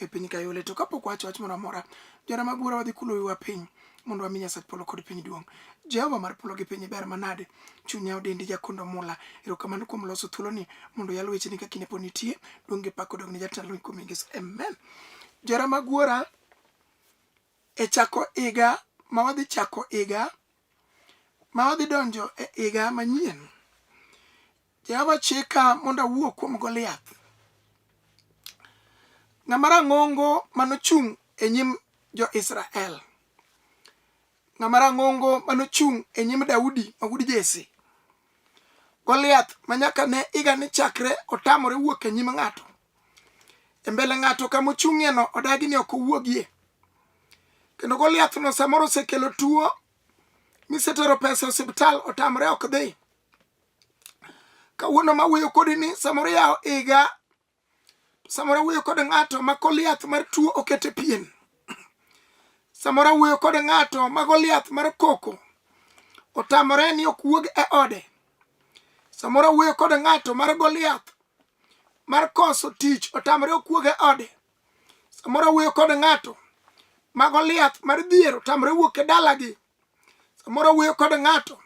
e piny kayole to kapok wacho wach moro amora jona mag bura wadhi kulo wiwa piny mondo wami nyasach polo kod piny duong' jehova mar polo gi piny ber manade chunya odendi jakondo mula erokamano kuom loso thuoloni mondo yal wecheni ka kinde pod nitie duong' gi pak odogne jatend lweny kuom ingeso amen jera mag wuora e chako higa ma wadhi chako higa ma wadhi donjo e higa manyien Jehova chika mondo awuo kuom Goliath. Ng'ama rang'ongo manochung' e nyim jo-Israel. Ng'ama rang'ongo manochung' e nyim Daudi ma wuod Jesse. Goliath ma nyaka ne iga ni chakre otamore wuok e nyim ng'ato. E mbele ng'ato kama ochung'ieno odagi ni ok owuogie. Kendo Goliathno samoro osekelo tuo misetero pesa e osiptal otamore ok dhi. kawuono ma wuoyo kodi ni samoro yawo iga samoro wuoyo kod ng'ato ma koliath mar tuo okete pien samoro wuoyo kod ng'ato ma goliath mar koko otamore ni ok wuog e ode samoro wuoyo kod ng'ato mar goliath mar koso tich otamore ok wuog e ode samoro wuoyo kod ng'ato ma goliath mar dhier otamore wuok e dalagi samoro wuoyo kod ng'ato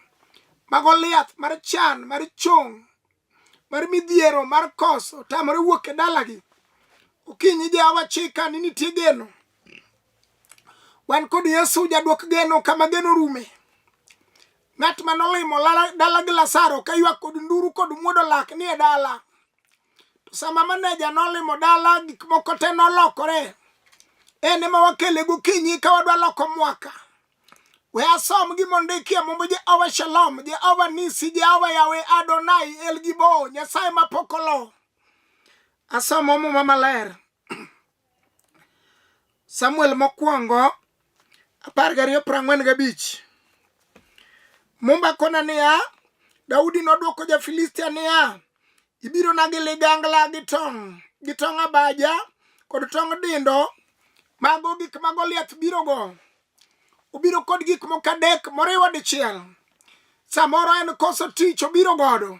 mago liath mar chan mar chong mar midhiero mar koso tamore wuok e dalagi okinyi jawa chika ni nitie geno wan kod yesu jadwok geno kama geno rume ng'at ma nolimo dala gi lasaro ka ywak kod nduru kod muodo lak ni e dala to sama maneja nolimo dala gik moko te nolokore en ema wakele gokinyi ka wadwa loko mwaka we asom gimondikie mumbo jehova shalom jehova nisi jehova yawe adonai elgibo nyasaye mapokolo asomo muma maler samuel mokwongo apar gariyo prang'wen gabich mumba kona niya daudi nodwoko ja-filistia niya ibiro na gi ligangla gi tong' gi tong' abaja kod tong' dindo mago gik ma goliath birogo obiro kod gik moko adek moriwo dichiel samoro en koso tich obiro godo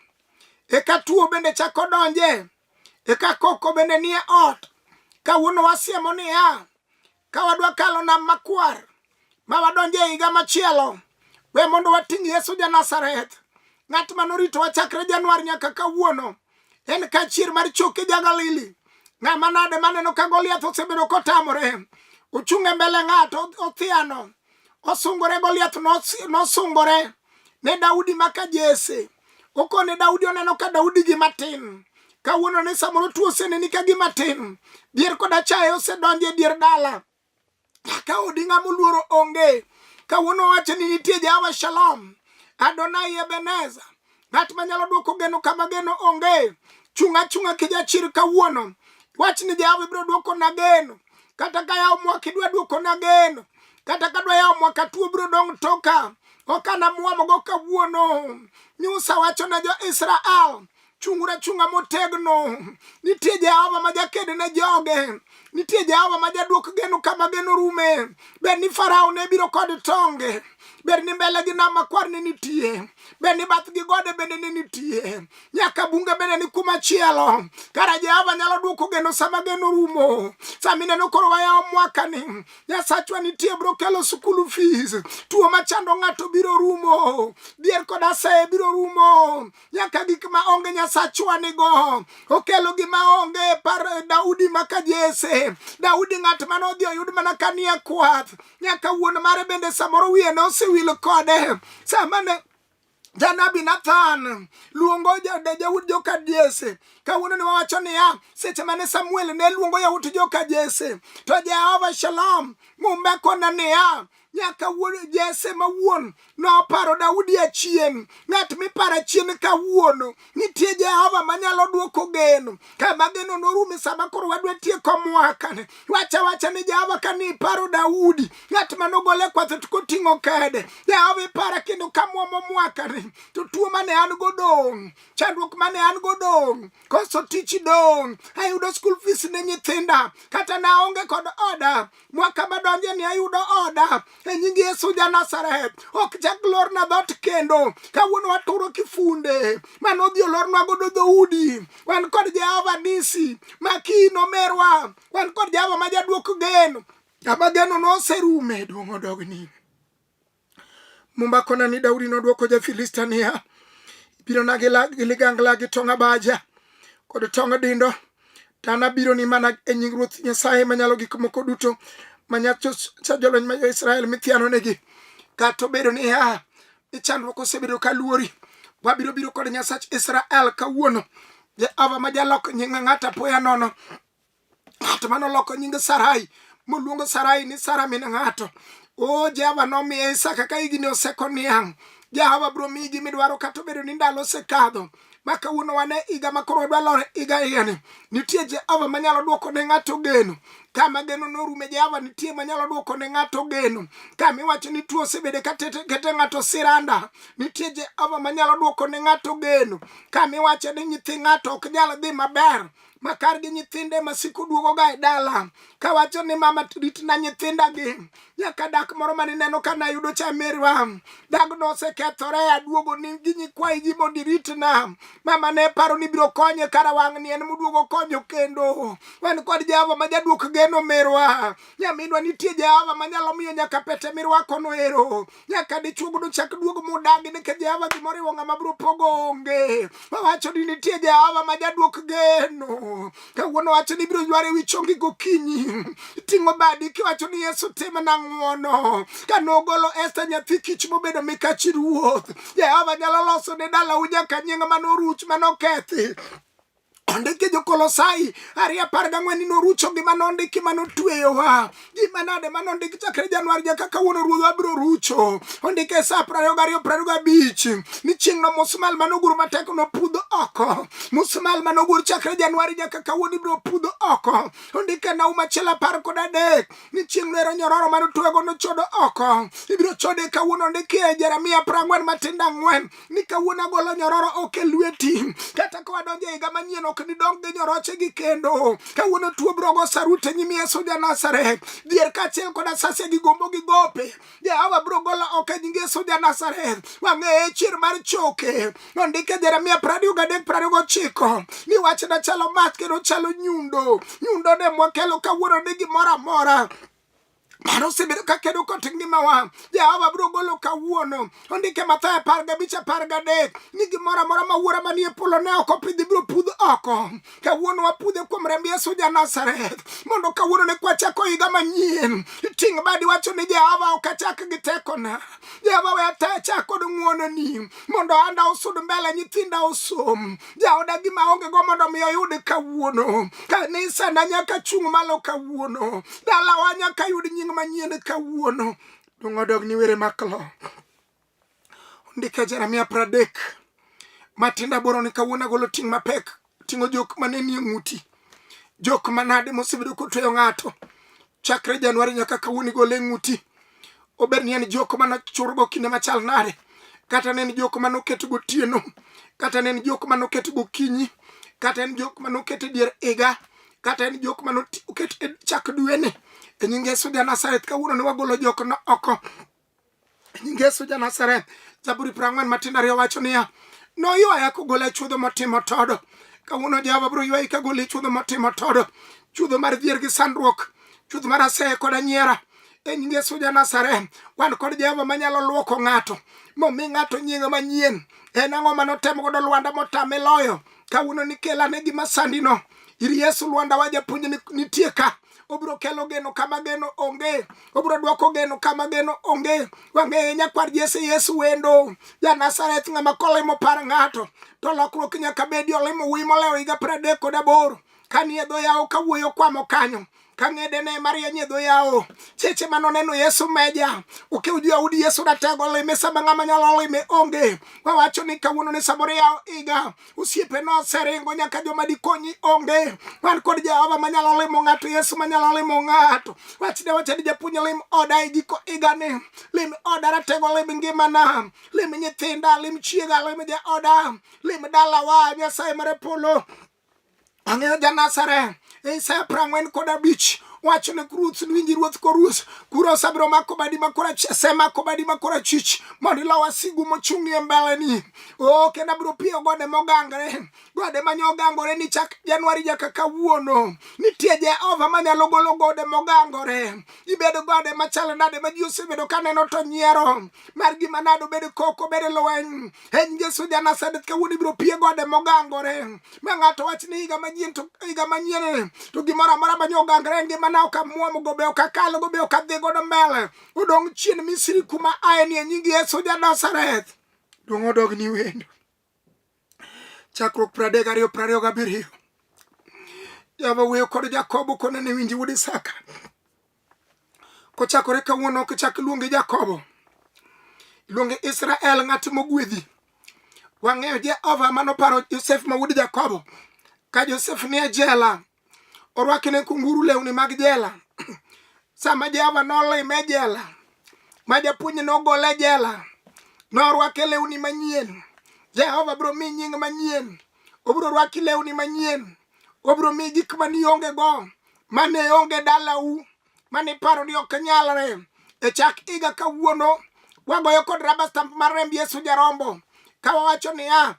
eka tuo bende chako donje Eka koko bende nie ot kawuono wasiemo niya, ka wadwa kalo nam makwar ma wadonje e higa machielo, we mondo wating' Yesu ja Nazareth, ng'at ma noritowa chakre Januar nyaka kawuono. En kachier mar choke ja Galili. Ng'ama nade maneno ka Goliath osebedo kotamore? Ochung' e mbele ng'ato othiano. Osungore Goliath nos- nosungore ne Daudi maka Jesse. okone Daudi oneno ka Daudi gi matin kawuono ne samoro tuo oseneni ka gi matin dier koda chaye osedonjo e dier dala ka odi ng'ama oluoro onge kawuono wacho ni nitie jawa shalom adonai ebeneza ng'at manyalo dwoko geno kama geno onge chunga chunga kijachir kawuono wach ni jawa ibiro dwoko na geno kata ka yawo mwaka idwa duokona geno kata ka dwa yawo mwaka tuo biro dong' toka ok anamwomogo kawuono nyusa wacho ne jo-israel chung'uru achung'a motegno nitie jehova ma jaked ne joge nitie jehova ma jaduok geno kama geno rume ber ni farao ne biro kod tonge ber ni mbele gi nam makwar ne nitie ber ni bath gi gode bende ne nitie nyaka bunge bende ni kuma chielo kara jehova nyalo duoko geno sama geno rumo sama ineno koro wayawo mwakani nyasachwa nitie bro kelo sukulu fees tuo machando ng'ato biro rumo dhier kod aseye biro rumo nyaka gik ma onge nyasachwa nigo okelo gima onge par daudi maka jese daudi ng'at mane odhi oyud mana kanie kwath nyaka wuon mare bende samoro wiye ne osewil kode sama ne Janabi Nathan luongo Yawut joka Jesse. Kawuono ne wawacho niya, seche mane Samuel ne luongo Yawut joka Jesse, to Jehova Shalom mumbe kona niya, nyaka wuod Jesse ma wuon noparo Daudi achien. Ng'at miparo achien kawuono nitie jehova manyalo dwoko geno kama geno norume sama koro wadwa tieko mwakane wacha wacha ni jehova ka ni iparo daudi ng'at manogole kwatho to koting'o kede jehova ipara kendo kamwomo mwakane to tuo mane an go dong' chandruok mane an go dong' koso tich dong' ayudo skul fees ne nyithinda kata naonge kod oda mwaka madonje ni ayudo oda e nying yesu ja nazareth ok chak lorna dhot kendo kawuono waturo kifunde mane odhi olornwa godo dhoudi wan kod jehova nisi ma kii nomerwa wan kod jehova ma jaduok gen kama geno noserume duong' odogni Muma kona ni Daudi nodwoko ja-Filistia niya, Ibirona gi ligangla gi tong' abaja kod tong' dindo, to anabironi mana e nying Ruoth Nyasaye Manyalo Gik Moko Duto ma nyacha jolweny ma jo-Israel mithianonegi. Kata obedo niya, ni chandruok osebedo ka luori, wabiro biro kod Nyasach Israel kawuono, Jehova ma jalok nying ng'ato apoya nono, ng'at mane oloko nying sarai moluongo sarai ni sara min ng'ato o jehova nomiye isaka ka higni oseko niang' jehova biro miyi gimidwaro kata obedo ni ndalo osekadho ma kawuono wane higa ma koro wadwa lore higa higani nitie jehova manyalo dwoko ne ng'ato geno kama geno norume jehova nitie manyalo dwoko ne ng'ato geno kama iwacho ni tuo osebede katekete ng'ato siranda nitie jehova manyalo dwoko ne ng'ato geno kama iwacho ni nyithi ng'ato ok nyal dhi maber makar gi nyithinde masiko duogoga e dala kawacho ni mama ritna nyithindagi nyaka dak moro mane neno ka nayudo cha merwa dagno osekethore aduogo ni gi nyikwayi gi mondo iritna mama ne paro ni biro konye kara wang' ni en moduogo konyo kendo wan kod jehova ma jaduok geno merwa nyaminwa nitie jehova manyalo miyo nyaka pete mirwakono ero nyaka dichuo mondo chak duogo modagi nikech jehova gimoriwo ng'ama biro pogo onge owacho ni nitie jehova ma jaduok geno kawuono wacho ni ibiro yware wi chongi gokinyi ting'o badi kiwacho ni yesu timna ng'wono ka nogolo esta nyathi kich mobedo mikachi ruoth jehova nyalo loso ne dalau nyaka nying' manoruch manokethi ondiki jokolosai ari apar gang'wen ni norucho gima nondiki ma notweyowa gima nade ma nondik chakre januar ja kaka wuon ruodh abiro rucho ondike e sa prariyo gariyo prariyo gabich ni chieng'no musmal ma nogur matek nopudh oko musmal ma nogur chakre januari ja kaka wuon ibiro pudh oko ondike e nauma achiel apar kod adek ni chieng'no ero nyororo ma notwego nochodo oko ibiro chode kawuono ondike e jeremia prang'wen matindo ang'wen ni kawuono agolo nyororo ok e lweti kata ka wadonjo e higa manyien ok nidong gi nyoroche gi kendo kawuono tuo brogo sarute nyimi yesu ja nazareth dhier kaachiel kod asase gi gombo gi gope jehova biro golo oko e nying yesu ja nazareth wang'eye chier mar choke nondike jeremia prariyo gadek prariyo gochiko ni wachna chalo mach kendo chalo nyundo nyundo ne mwakelo kawuono ni gimoro amora mano osebedo ka kedo kod ngimawa jehova biro golo kawuono ondike mathayo apar gabich apar gadek ni gimoro amora ma wuora manie polo ne ok opidhi biro pudh oko kawuono wapudhe kuom remb yesu ja nazareth mondo kawuono ne kwachako higa manyien ting' badi wacho ni jehova ok achak gi tekona jehova we ataya chak kod ng'wononi mondo anda osud mbele nyithinda osom jaoda gima onge go mondo mi oyud kawuono kanisa na nyaka chung' malo kawuono dalawa nyaka yud nying manyien kawuono dongo dog ni were maklo ndike jeremia pradek matinda boro ni kawuono agolo ting' mapek ting'o jok mane nie ng'uti jok manade mosebedo kotweyo ng'ato chakre januari nyaka kawuono igole ng'uti obed ni en jok mane churgo kinde machal nade kata ne en jok mane oket gotieno kata ne en jok mane oket gokinyi kata en jok mane oket e dier iga kata en jok mane oket e chak dwene e nyinge suja nasareth kawuono ne wagolo jok no oko nying Yesu ja Nazareth. Zaburi piero ang'wen matindo ariyo wacho niya, noywaya kogola e chuodho motimo todo. Kawuono Jehova biro ywayi kagoli e chuodho motimo todo, chuodho mar dhier gi sandruok, chuodho mar aseye kod anyiera e nying Yesu ja Nazareth. Wan kod Jehova manyalo luoko ng'ato momi ng'ato nyinge manyien. En ang'o mane otemo godo Lwanda motame loyo? Kawuono ni kelane gima sandino ir Yesu Lwanda wa japuonj ni- nitie ka obiro kelo geno kama geno onge obiro dwoko geno kama geno onge wang'eye nyakwar jese yesu wendo ja nazareth ng'ama kolemo par ng'ato to lokruok nyaka bedi olemo wuyi molewo higa pradek kod aboro kanie dho yawo kawuoyo kwamo kanyo kang'ede ne marieny e dho yawo seche ma noneno yesu meja okew jo audi yesu ratego lime sama ng'ama nyalo lime onge wawacho ni kawuono ni samoro yawo iga osiepe noseringo nyaka joma dikonyi onge wan kod jehova manyalo limo ng'ato yesu manyalo limo ng'ato wachne wacha ni japuonj lim oda e giko igani lim oda ratego lim ngimana lim nyithinda lim chiega lim jaoda lim dalawa nyasaye mare polo Ang'eyo ja Nazareth, Isaya piero ang'wen kod abich wacho ne ruoth winji ruoth koruoth kura osebiro mako badi makora semako badi makora chich mondo ilo wasigu mochung'ie mbeleni o kendo abiro piyo gode mogangre gode manye ogangore ni chak januari nyaka kawuono nitie jehova manyalo golo gode mogangore ibedo gode machalo nade ma ji osebedo kaneno to nyiero mar gima nade obedo koko obedo lweny en Yesu ja Nazareth kawuono ibiro pie gode mogangore ma ng'ato wach ni higa manyien to higa manyien to gimoro amora manye ogangore e ngimana ok amwom go be ok akal go be ok adhi godo mbele odong' chien Misri kuma aye ni e nying Yesu ja Nazareth dong' odog ni wendo chakruok pradek ariyo prariyo gabiriyo Jehova wuoyo kod Jakobo kone ne winji wuod Isaka kochakore kawuono ok chak iluonge jakobo iluonge israel ng'at mogwedhi wang'eyo jehova mano paro josef ma wuod jakobo ka josef nie jela orwakne kunguru lewni mag jela sama jehova nolime jela ma japuonj nogole jela norwake lewni manyien jehova biro mi nying manyien obiro rwaki lewni manyien obiro mi gik manionge go mane onge dalau mane iparo ni ok nyalre e chak higa kawuono wagoyo kod raba stamp mar remb yesu jarombo ka wawacho niya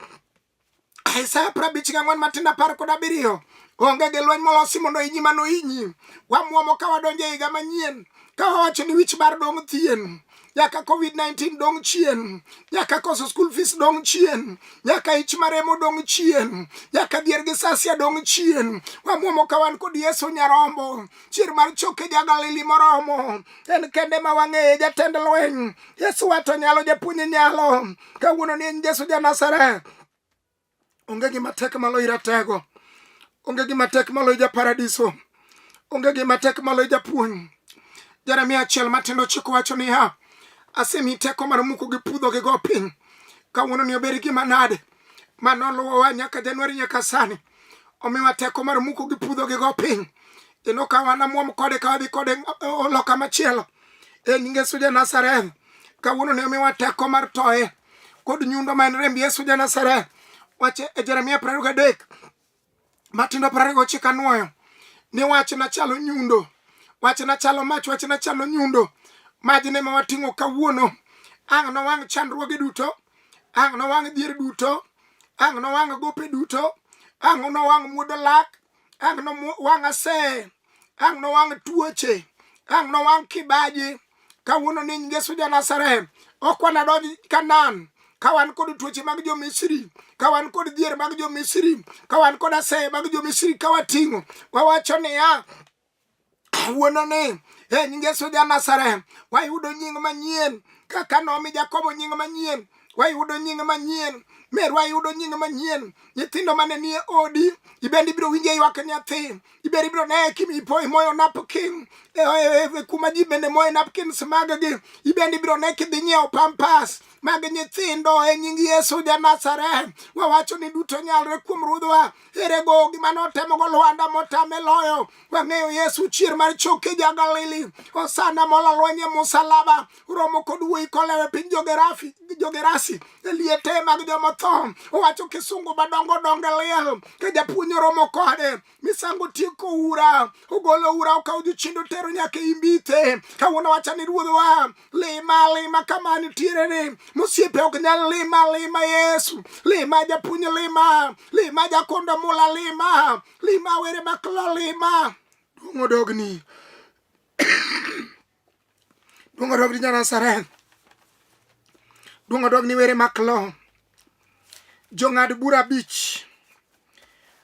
Isaya prabich gang'wen matindo apar kod abiriyo onge gi lweny molosi mondo inyi mano inyi wamwomo ka wadonjo e higa manyien ka wawacho ni wich bar dong' thien nyaka covid-19 dong' chien nyaka koso school fees dong' chien nyaka ich maremo dong' chien nyaka dhier gi sasia dong' chien wamwomo ka wan kod yesu nyarombo chier mar choke jagalili moromo en kende ma wang'eye jatend lweny yesu wato nyalo japuonye nyalo kawuono ni en yesu janasareth onge gima tek malo i ratego onge gima tek malo i japaradiso onge gima tek malo i japuonj jeremia achiel matindo chiko wacho niya asemi teko mar muko gi pudho gi go piny kawuono ni obed gima nade ma noluwowa nyaka januari nyaka sani omiwa teko mar muko gi pudho gi go piny ino ka wan amwom kode ka wadhi kode loka machielo e nyinge suja nazareth kawuono ni omiwa teko mar toye kod nyundo ma en remb Yesu ja Nazareth. Wache e Jeremia piero ariyo gadek matindo piero ariyo gochiko anwoyo ni wachna chalo nyundo, wachna chalo mach, wachna chalo nyundo, majne ma wating'o kawuono. Ang' nowang' chandruoge duto, ang' nowang' dhier duto, ang' nowang' gope duto, ang' nowang' muodo lak, ang' nowang' aseye ang' nowang' tuoche ang' nowang' kibaji kawuono ni ngeso ja Nazareth ok wanadonj Kanan ka wan kod tuoche mag jo Misri ka wan kod dhier mag jo Misri ka wan kod aseye mag jo Misri ka wating'o wawacho niya kawuono ni e nying Yesu ja Nazareth wayudo nying manyien kaka nomi Jakobo nying manyien wayudo nying manyien meru ayudo nying manyien nyithindo mane nie odi ibende ibiro winje ywak nyathi ibende ibiro ne kimi ipo imoyo napkin e, e, e, kuma ji bende moye napkins maggi ibende ibiro ne kidhi nyiewo pampas mag nyithindo e nying yesu ja nazareth wawacho ni duto nyalre kuom ruodhwa ere go gima notemo go Lwanda motame loyo wang'eyo Yesu chier mar choke ja Galili osana mola lweny e musalaba uromo kod wuoyi kolewe piny jogerafi jogerasi e liete mag jomotho owacho kisungu madongo donge liel ka japuonj oromo kode misango tieko ura ogolo ura okawo jochindo tero nyaka imbithe kawuono wacha ni ruodhwa lima lima kama nitiere ni mosiepe ok nyal lima lima yesu lima japuonj lima lima jakondo mula lima lima were maklo lima duong' odogni duong' odogni janasareth duong' odogni were maklo jong'ad bura abich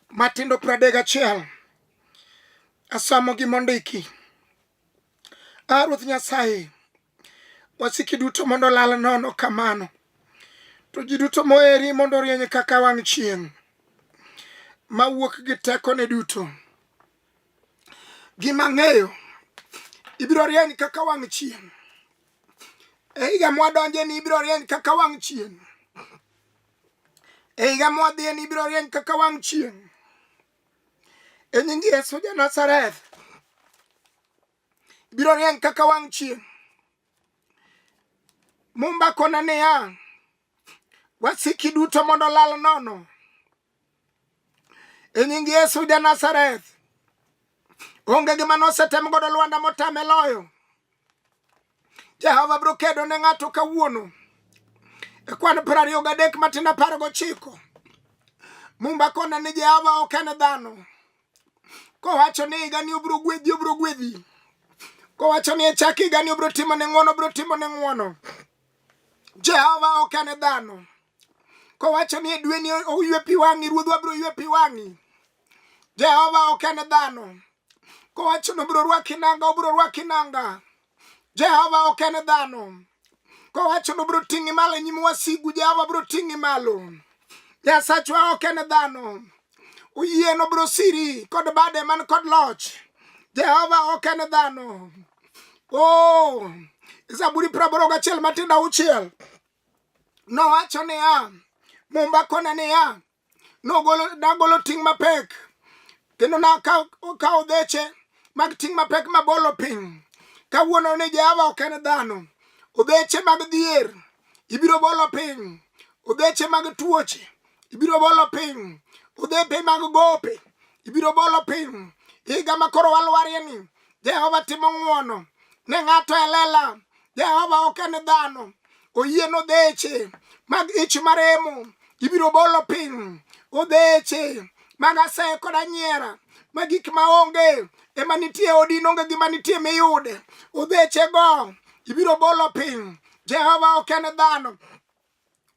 matindo pradek achiel asomo gi mondiki A Ruoth Nyasaye, wasiki duto mondo lal nono kamano, to ji duto moeri mondo orieny kaka wang' chieng' mawuok gi tekone duto. Gima ng'eyo ibiro rieny kaka wang' chieng' e higa mwadonje ni ibiro rieny kaka wang' chieng' e higa mwadhiye ni ibiro rieny kaka wang' chieng' e nying Yesu ja Nazareth biro rieny kaka wang' chieng' mumba kona niya wasiki duto mondo lal nono e nying Yesu ja Nazareth onge gima nosetem godo Lwanda motame loyo Jehova biro kedo ne ng'ato kawuono e kwan piero ariyo gadek matin apar gochiko mumba kona ni Jehova ok en dhano kowacho ni higani obiro gwedhi obiro gwedhi kowacho ni echak higani obiro timo ne ng'wono obiro timo ne ng'wono Jehova ok en dhano kowacho ni e dweni oywe pi wang'i ruodhwa biro ywe pi wang'i Jehova ok en dhano kowacho ni obiro rwaki nanga obiro rwaki nanga jehova ok en dhano kowacho ni obiro ting'i malo e nyim wasigu jehova biro ting'i malo nyasachwa ok en dhano oyien obiro siri kod bade man kod loch jehova ok en dhano o oh, zaburi praboro gachiel matindo auchiel nowacho niya mumba kone niya nogolo nagolo ting' mapek kendo nakawo dheche mag ting' mapek mabolo piny kawuono ni jehova ok en dhano odheche mag dhier ibiro bolo piny odheche mag tuoche ibiro bolo piny odhepe mag gope ibiro bolo piny higa ma koro walwarieni Jehova timo ng'wono ne ng'ato e lela. Jehova ok en dhano, oyie nodheche mag ich maremo ibiro bolo piny, odheche mag aseye kod anyiera ma gik ma onge ema nitie odi nonge gima nitie miyude, odhechego ibiro bolo piny. Jehova ok en dhano,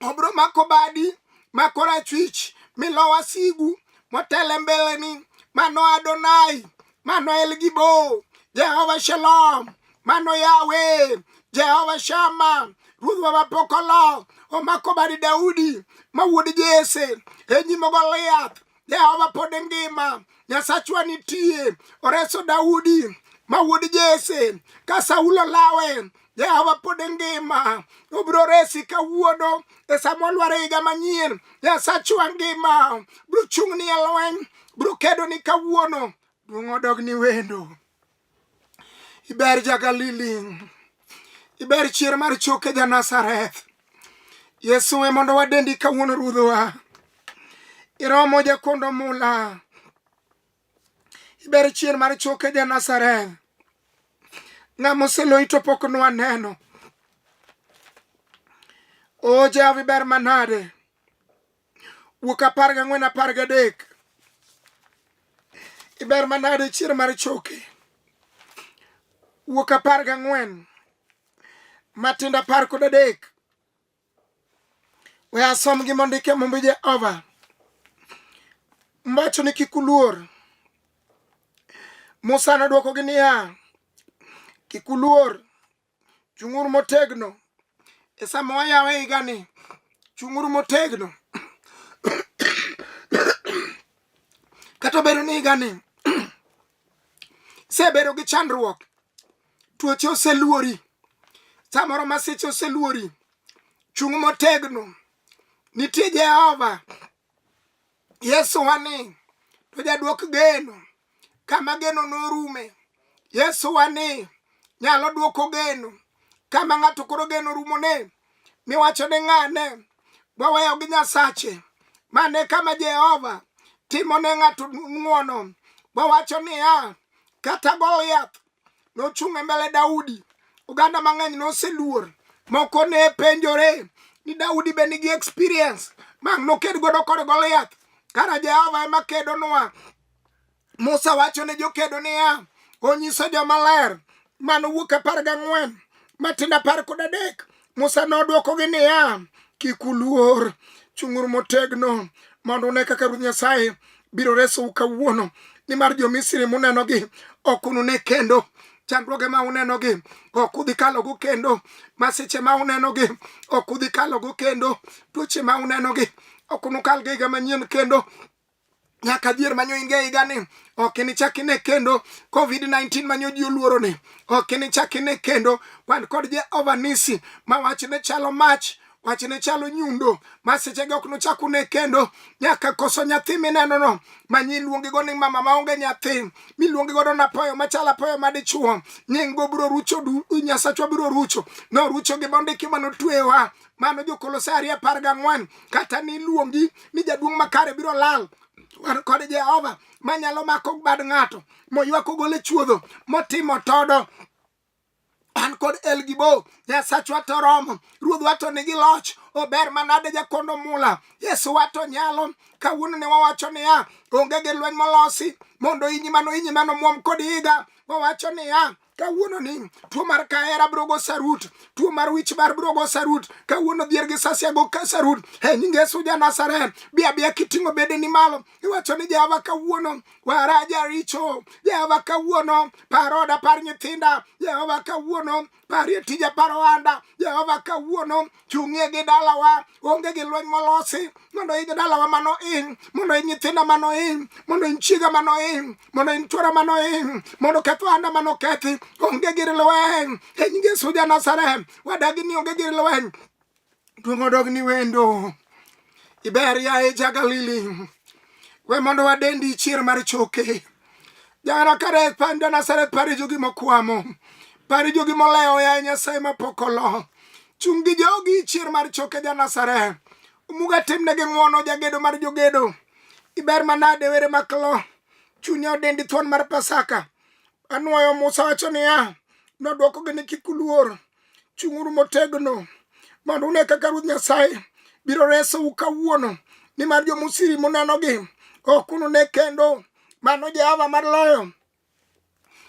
obro mako badi mako rachwich milowa sigu motele mbeleni mano adonai mano elgibo jehova shalom mano yawe jehova shama ruodhwa mapokolo omako badi daudi ma wuod jese enyimo goliath Jehova pod ngima, Nyasachwa nitie. Oreso Daudi ma wuod Jese ka Saulo lawe Jehova pod ngima, obiro resi kawuono e sama olwar e higa manyien. Nyasachwa ngima, biro chung'ni e lweny, biro kedoni kawuono, duong' odogni wendo. iber jagalili iber chier mar choke janazareth yesu e mondo wadendi kawuono ruodhowa iromo jakondo mula iber chier mar choke janazareth ng'ama oseloyi to pok nwaneno o jehova iber manade wuok apar gang'wen apar gadek iber manade chier mar choke wuok apar gang'wen matindo apar kod adek we asom gi mondike mumbi jehova mbacho ni kik uluor musa nodwokogi niya kik uluor chung'uru motegno e sama wayawe higani chung'uru motegno kata obedo ni higani sebedo gi chandruok tuoche oseluori samoro masiche oseluori chung' motegno nitie jehova Yesu wani to jadwok geno kama geno norume. Yesu wani nyalo dwoko geno kama ng'ato koro geno rumone miwacho ni ng'ane waweyo gi Nyasache mane kama Jehova timo ne ng'ato ng'wono wawacho niya kata Goliath nochung' e mbele Daudi. Oganda mang'eny noseluor, moko ne penjore ni Daudi be nigi experience mang' noked godo kod Goliath. Kara Jehova ema kedonwa. Musa wacho ne jokedo niya, onyiso jomaler mano wuok apar gang'wen matindo apar kod adek Musa nodwokogi niya, kik uluor, chung'uru motegno mondo une kaka Ruoth Nyasaye biro resou kawuono, nimar jo-Misri munenogi ok unune kendo chandruoge ma unenogi ok udhi kalogo kendo masiche ma unenogi ok udhi kalogo kendo tuoche ma unenogi ok unukal giga manyien kendo nyaka dhier manyo in ga higa ni ok inichak ine kendo covid-19 manyo ji oluoro ni ok inichak ine kendo kwan kod jehova nisi ma wach ne chalo mach wach ne chalo nyundo ma sechege ok nochak une kendo nyaka koso nyathi minenono ma nyi iluongego ni mama maonge nyathi miluongi godo na poyo machalo apoyo madichuo nyinggo biro rucho du nyasachwa biro rucho norucho gi bondiki manotweyowa mano jokolosai ariyo apar gang'wen kata ni iluongi ni jaduong' makare biro lal wan kod jehova manyalo mako bad ng'ato moywak ogole chuodho motimo todo an kod elgibo nyasachwa to romo ruodhwa to nigi loch ober manade jakondo mula yesu wato nyalo kawuono ne wawacho niya onge gi lweny molosi mondo inyi mano inyi mano muom kod higa wawacho niya kawuono ni tuo mar kahera biro go sarut tuo mar wich bar biro go sarut kawuono dhier gi sasia go ka sarut e nying yesu ja nazareth bi abiya kiting'o bede ni malo iwacho ni jehova kawuono wara jaricho jehova kawuono par oda par nyithinda jehova kawuono parie tija par ohanda jehova kawuono chung'ie gi dalawa onge gi lweny molosi mondo in dalawa mano in mondo in nyithinda mano in mondo in chiega mano in mondo in chwora mano in mondo keth ohanda mano kethi onge gir lweny e nying Yesu ja Nazareth wadagi ni onge gir lweny duong' odog ni wendo Iber yaye Jagalili, we mondo wadendi chier mar choke. Jana kare panda Nazareth pari jogi mokwamo, pari jogi molewo yaye Nyasaye mapok olo. Chung' gi jogi chier mar choke ja Nazareth. Umuga timnegi ng'wono jagedo mar jogedo. Iber manade were maklo, chunya odendi thuon mar Pasaka. Anwoyo Musa wacho niya, nodwokogi ni kik uluor. chung'uru motegno mondo une kaka ruoth nyasaye biro resou kawuono nimar jomusiri munenogi ok unune kendo mano jehova mar loyo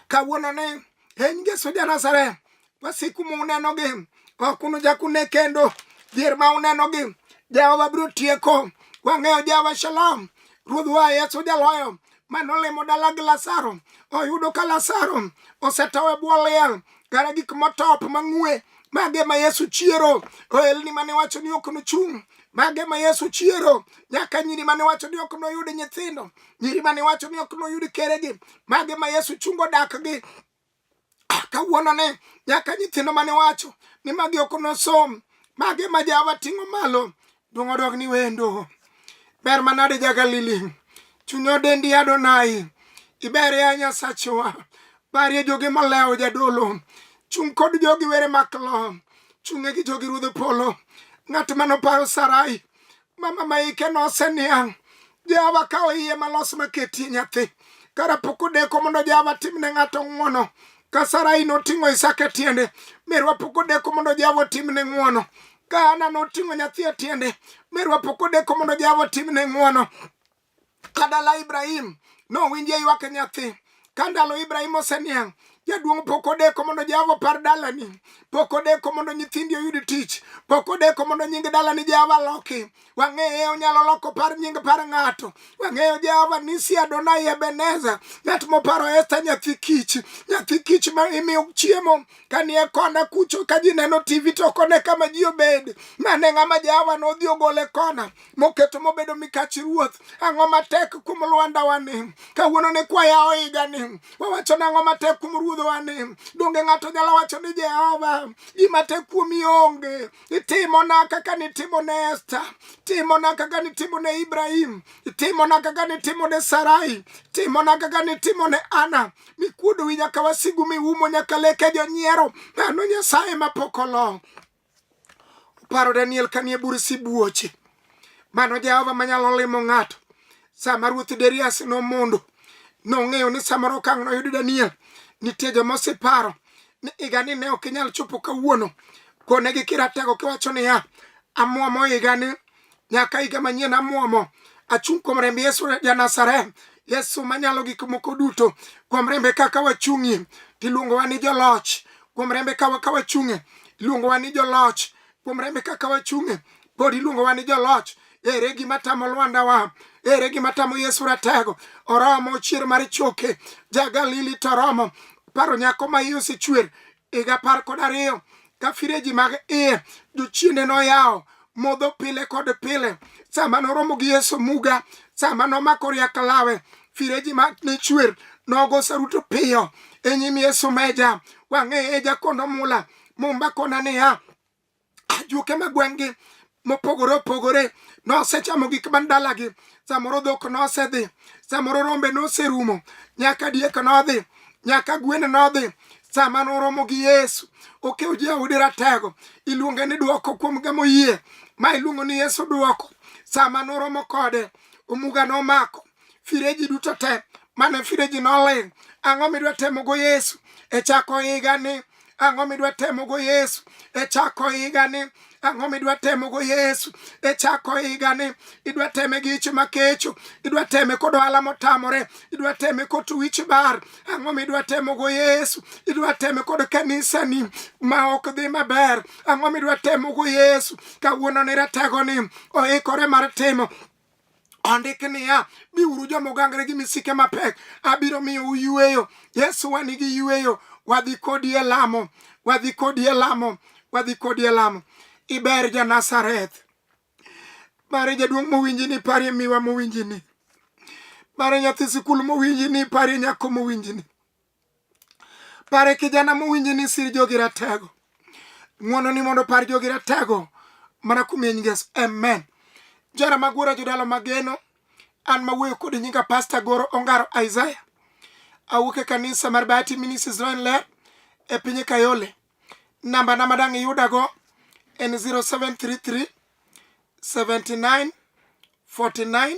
kawuono ne en yesu janazareth wasiku munenogi ok unuchak une kendo dhier ma unenogi jehova biro tieko wang'eyo jehova shalom ruoth wa yesu jaloyo mane olimo dala gi Lazaro oyudo ka Lazaro osetow e bwo liel kara gik motop mang'ue mage ma Yesu chiero ohelni mane wacho ni ok nochung' mage ma Yesu chiero nyaka nyiri mane wacho ni ok noyud nyithindo nyiri mane wacho ni ok noyud keregi mage ma Yesu chungo dakgi ah, kawuono ni nyaka nyithindo mane wacho ni magi ok nosom magi ma jawa ting'o malo duong' odog ni wendo ber manade ja galili chunyo dendi adonai iber ya nyasachwa barie jogi molewo jadolo chung' kod jogi were maklo chung'e gi jogi ruodh polo ng'at manopayo sarai mama ma ike noseniang' jawa ka oiye malos maketie nyathi kara pok odeko mondo jawa timne ng'ato ng'wono ka sarai noting'o isaka e tiende merwa pok odeko mondo jawa otimne ng'wono ka ana noting'o nyathi e tiende merwa pok odeko mondo jawa otimne ng'wono Kadala Ibrahim nowinje ywak nyathi ka ndalo Ibrahim oseniang' jaduong' pok odeko mondo Jehova opar dalani, pok odeko mondo nyithindi oyud tich, pok odeko mondo nying dalani Jehova loki. Wang'eyo onyalo loko par nying par ng'ato. Wang'eyo Jehova nisi Adonai Ebeneza, ng'at moparo Esta nyathi kich, nyathi kich ma imiyo chiemo kanie kona kucho ka ji neno TV to kone kama ji obed. Mane ng'ama Jehova nodhi ogole kona. moketo mobedo mikachi ruoth ang'o matek kuom lwandawani kawuono ni kwaya oigani wawacho ni ang'o matek kuom ruodhowani donge ng'ato nyalo wacho ni jehova gima tek kuomi onge itimona kaka nitimo ne esta timona kaka nitimo ne ibrahim itimona kaka nitimo ne sarai timona kaka nitimo ne ana mikuodowi nyaka wasigu miumo nyaka leke jonyiero mano nyasaye mapok olo Paro Daniel kanie bur sibuoche. Mano Jehova manyalo limo ng'ato. Sama Ruoth Darius nomondo, nong'eyo ni samoro okang' noyud Daniel. Nitie joma oseparo ni higani ne ok inyal chopo kawuono. Konegi kiratego kiwacho niya, amwomo higani nyaka higa manyien amwomo achung' kuom remb yesu janasareth yesu manyalo gik moko duto kuom rembe kaka wachung'ie tiluongowa ni joloch kuom rembe kaka wachung'e iluongowa ni joloch kuom rembe kaka wachung'e pod iluongowa ni joloch ere gima tamo lwanda wa ere gima tamo yesu ratego oromo chier mar choke ja galili to oromo paro nyako ma iye osechwer higa apar kod ariyo ka fireji mag iye jochiende noyawo modho pile kod pile sama noromo gi yesu muga sama nomako riak lawe fireji mag ne chwer nogo saruto piyo e nyim yesu meja wang'eye e jakondo mula mumba kona niya ajuoke ma gweng'gi mopogore opogore nosechamo gik man dalagi samoro dhok nosedhi samoro rombe noserumo nyaka diek nodhi nyaka gwen nodhi sama noromo gi yesu okew jaudi ratego iluonge ni dwoko kuom gamo yie ma iluongo ni yesu dwoko sama noromo kode omuga nomako fireji duto te mane fireji noling ang'o midwa temogo yesu e chako higani ang'o midwa temogo yesu e chako higani ang'o midwa temogo yesu e chako higani idwa teme gi ich makecho idwa teme kod ohala motamore idwa teme kod wich bar ang'o midwa temogo yesu idwa teme kod kanisani ma ok dhi maber ang'o midwa temogo yesu kawuono ni rategoni oikore mar timo ondik niya biuru joma ogangre gi misike mapek abiro miyo uyueyo yesu wa nigi yueyo wadhi kodi e lamo wadhi kodi e lamo wadhi kodi e lamo iber ja nazareth bare jaduong' mowinji ni parie miwa mowinji ni bare nyathi sikul mowinji ni parie nyako mowinji ni pare kijana mowinje ni sir jogi ratego ng'wono ni mondo par jogi ratego mana kumeny ngeso amen jara magwora jodalo mageno an mawuoyo kod nyinga pasta goro ongaro isaya awuok e kanisa mar bati ministries roen ler e piny kayole namba na madang' iyudago en 0733 79 49